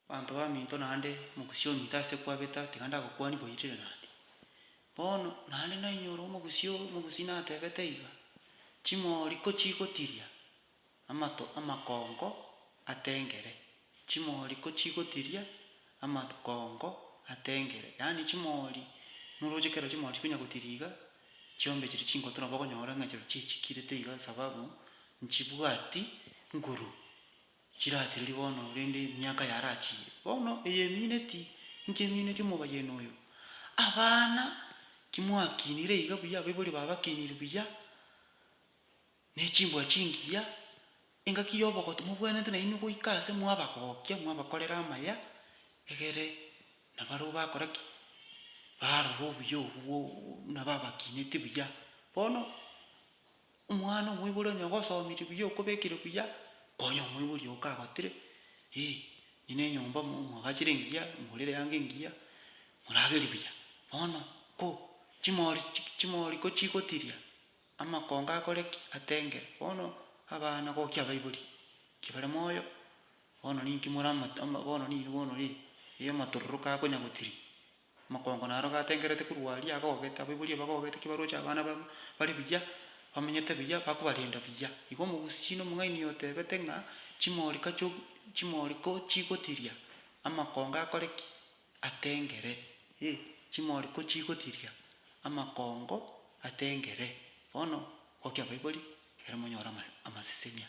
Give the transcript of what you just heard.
Banto baminto naende omogusii onyite ase kwabeta tiga ndagokwani boirire naende. Bono naende nainyora omogusii oo omogusii natebete iga, Chimori kochigotiria amato amakongo atengere, chimori kochigotiria amakongo atengere. Yaani chimori noroche ekero chimori chikonya gotiria iga, chiombe chiria chingoto nabo okonyora ng'a echiro chichikirete iga sababu nchibwati nguru. Chiratereri bono, rende emiaka yarachiire bono eyemiineti inche miineti omobayeni oyo. Abana kimwakinire iga buya, abaibori babakinire buya, ne chimbwa chingiya, engaki y'obogoto mobwenerete nainwe goika aase mwabagokia, mwabakorera amaya, egere nabarabwo bakora ki? Barora obuya obwo buna babakineti buya. Bono. Omwana omoibori onye ogosoomirie buya okobekire buya, konya omoibori oo kagotire, eh, ng'ina enyomba mo mwagachire engiya, morire yange engiya, moragerie buya. Bono ko chimori chi chimori ko chigotiria, amakongo akore ki? Atengere. Bono abana gokia abaibori, ki bare moyo, bono ninki moramate ama bono nini bono ri, eh, amatororo kakonya gotiria. Amakongo naro gatengerete korwa aria agogete, abaibori aba bagogete ki baroche abana babo bare buya, bamenyete buya, bakobarenda buya. Igo omogusii na omong'aini otebete ng'a chimorika chio chimoriko chigotiria, amakongo akore ki? Atengere. Ee, chimoriko chigotiria, amakongo atengere. Bono, gokia abaibori, ere monyore ama amasesenia.